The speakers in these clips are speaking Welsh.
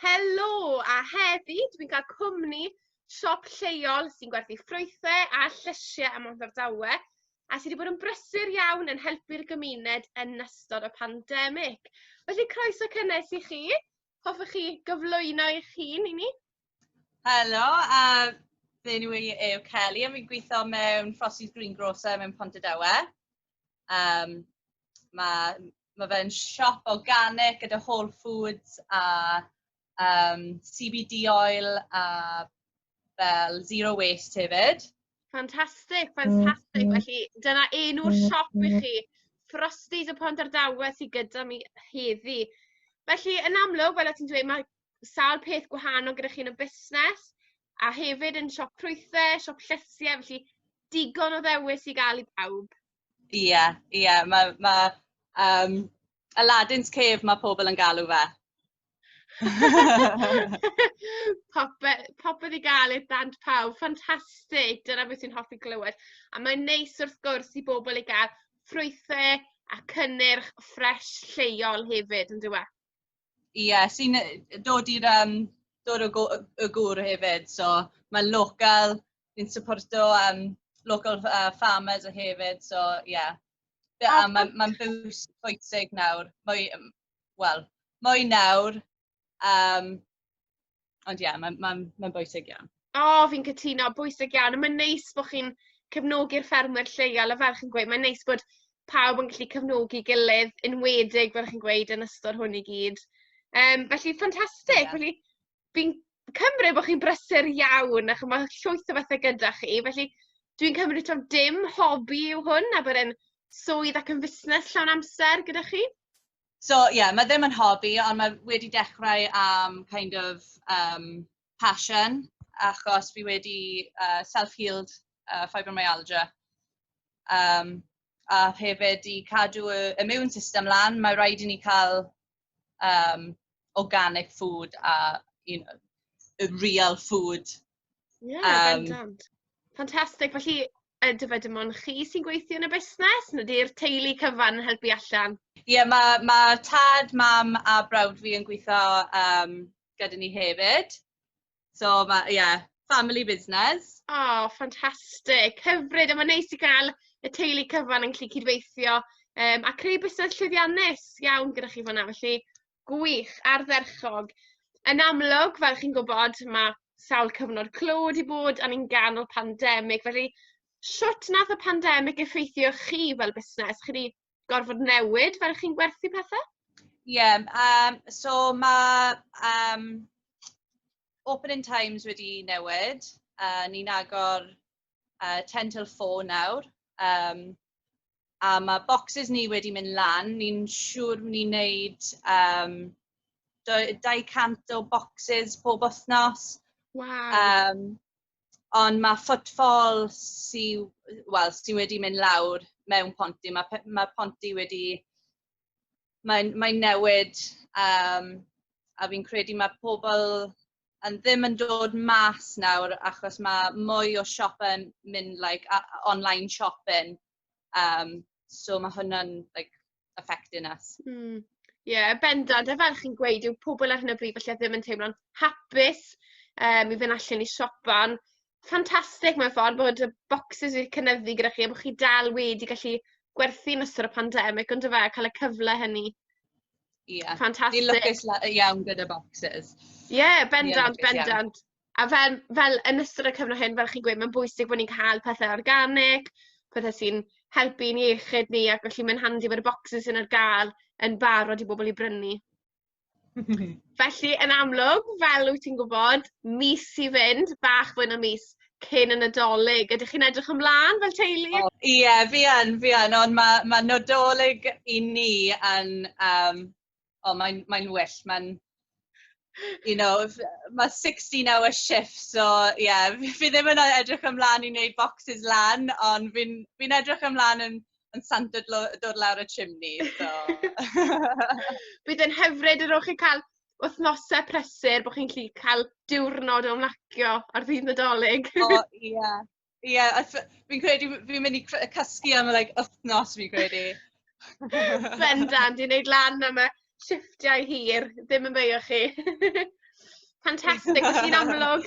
Helo! A heddi, dwi'n cael cwmni siop lleol sy'n gwerthu ffrwythau a llysiau ym Mhorthordawe a sydd wedi bod yn brysur iawn yn helpu'r gymuned yn ystod y pandemig. Felly croeso cynnes i chi. Hoffech chi gyflwyno eich hun i ni? Helo, a fe nhw i yw Kelly, a fi'n gweithio mewn Frosty's Greengrocer mewn Pontydawe. Um, mae Mae fe'n siop organic gyda whole foods a um, CBD oil a fel zero waste hefyd. Fantastic, fantastic. Mm. Felly dyna enw'r mm. siop i chi. Frosties y Pont Ardawe sydd gyda mi heddi. Felly yn amlwg, fel o ti'n dweud, mae sawl peth gwahanol gyda chi yn y busnes a hefyd yn siop prwythau, siop llysiau, felly digon o ddewis i gael i bawb. Ie, ie, mae ma, um, Aladdin's Cave mae pobl yn galw fe. popeth, popeth i gael i'r dant pawb, ffantastig, dyna beth sy'n hoffi glywed. A mae'n neis wrth gwrs i bobl i gael ffrwythau a cynnyrch ffres lleol hefyd, yn dweud? ie, sy'n dod i'r um, dod o y gŵr hefyd. So mae'n local, ni'n supporto um, local uh, farmers o hefyd. So ie, yeah. yeah, mae'n ma bws pwysig nawr. Mwy, wel, mwy nawr. Um, Ond ie ma'n ma'n ma'n bwysig iawn. O fi'n cytuno bwysig iawn a ma'n neis bo' chi'n cefnogi'r ffermwyr lleol a fel chi'n gweud mae'n neis bod pawb yn gallu cefnogi gilydd enwedig fel chi'n gweud yn ystod hwn i gyd. Yym felly ffantastig yeah. felly fi'n cymryd bo' chi'n brysur iawn a ch'mo' ma' llwyth o bethe gyda chi felly dwi'n cymryd taw dim hobi yw hwn a bod e'n swydd ac yn fusnes llawn amser gyda chi? So ie, yeah, mae ddim yn hobi, ond mae wedi dechrau am kind of um, passion, achos fi wedi uh, self-healed uh, fibromyalgia. Um, a hefyd i cadw y immune system lan, mae rhaid i ni cael um, organic food a you know, real food Ie, um, bendant. Fantastic. Felly, ydyfe dim ond chi sy'n gweithio yn y busnes? Nid yw'r teulu cyfan yn helpu allan? Ie, yeah, mae ma tad, mam a brawd fi yn gweithio um, gyda ni hefyd. So, mae, ie, yeah, family business. O, oh, ffantastig. Hyfryd, a mae'n neis i gael y teulu cyfan yn gallu cydweithio um, a creu busnes llwyddiannus iawn gyda chi fanna. Felly, Gwych, ardderchog. Yn amlwg, fel chi'n gwybod, mae sawl cyfnod clo wedi bod a ni'n ganol pandemig, felly shwt nath y pandemig effeithio chi fel busnes? Chi wedi gorfod newid fel chi'n gwerthu pethau? Ie, yeah, um, so mae um, opening times wedi newid. Uh, ni'n agor yy ten till four nawr yym a ma' bocsys ni wedi mynd lan, ni'n siŵr ni'n neud yym dou- dau cant o bocsys pob wthnos. Waw. Yym on' ma' footfall sy w- wel sy wedi mynd lawr mewn pontydd ma' pe- ma' pontydd wedi mae'n mae'n newid yym a fi'n credu ma' pobol yn ddim yn dod mas nawr achos mae mwy o siopau'n mynd like a- a- online shopping um, so mae hwnna'n like affecting us. Mm. Ie, yeah, bendant. A fel chi'n gweud, yw pobl ar hyn o bryd felly ddim yn teimlo'n hapus um, i fynd allan i siopa'n ffantastig mewn ffordd bod y boxes wedi cynyddu gyda chi a bod chi dal wedi gallu gwerthu yn ystod y pandemig ond y fe, cael y cyfle hynny. Ie... Fantastic. ...Fi'n lwcus la- yy iawn gyda bocsys. Ie bendant bendant. A fel fel yn ystod y cyfnod hyn fel chi'n gweud ma'n bwysig bo' ni'n ca'l pethe organig pethe sy'n helpu i'n iechyd ni ac felly mae'n handi bod y bocsys yn ar ga'l yn barod i bobol i brynu. Felly yn amlwg fel wyt ti'n gwbod mis i fynd bach fwy na mis cyn y Nadolig. Ydych chi'n edrych ymlaen fel teulu? Ie, oh, yeah, fi yn, fi yn, ond mae ma Nadolig i ni yn, um, o, oh, mae'n mae well, mae'n, you know, mae 16 hour shift, so ie, yeah, fi ddim yn edrych ymlaen i wneud boxes lan, ond fi'n fi, edrych ymlaen yn, yn sant dod lawr y chimney, so. Bydd yn hyfryd yr o'ch chi cael wythnosau prysur bod chi'n gallu cael diwrnod o ymlacio ar ddydd Nadolig. O, ie. Yeah. Ie, yeah, fi'n credu fi'n mynd i cysgu am like, wythnos, fi'n credu. Bendant, i wneud lan am y shifftiau hir, ddim yn beio chi. Fantastic, felly'n amlwg,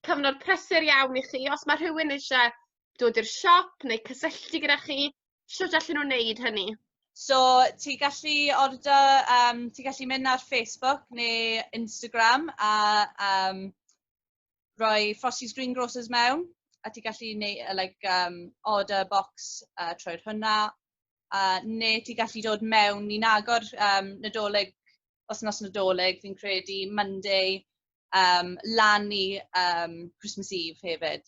cyfnod prysur iawn i chi. Os mae rhywun eisiau dod i'r siop neu cysylltu gyda chi, Shwt allan nhw'n neud hynny? So, ti gallu orda, um, ti gallu mynd ar Facebook neu Instagram a um, rhoi Frosty's Green Grocers mewn, a ti gallu neud, uh, like, um, order box uh, trwy'r hwnna, a neu ti gallu dod mewn, ni'n agor um, nadolig, os nos nadolig, fi'n credu Monday, um, lan i um, Christmas Eve hefyd.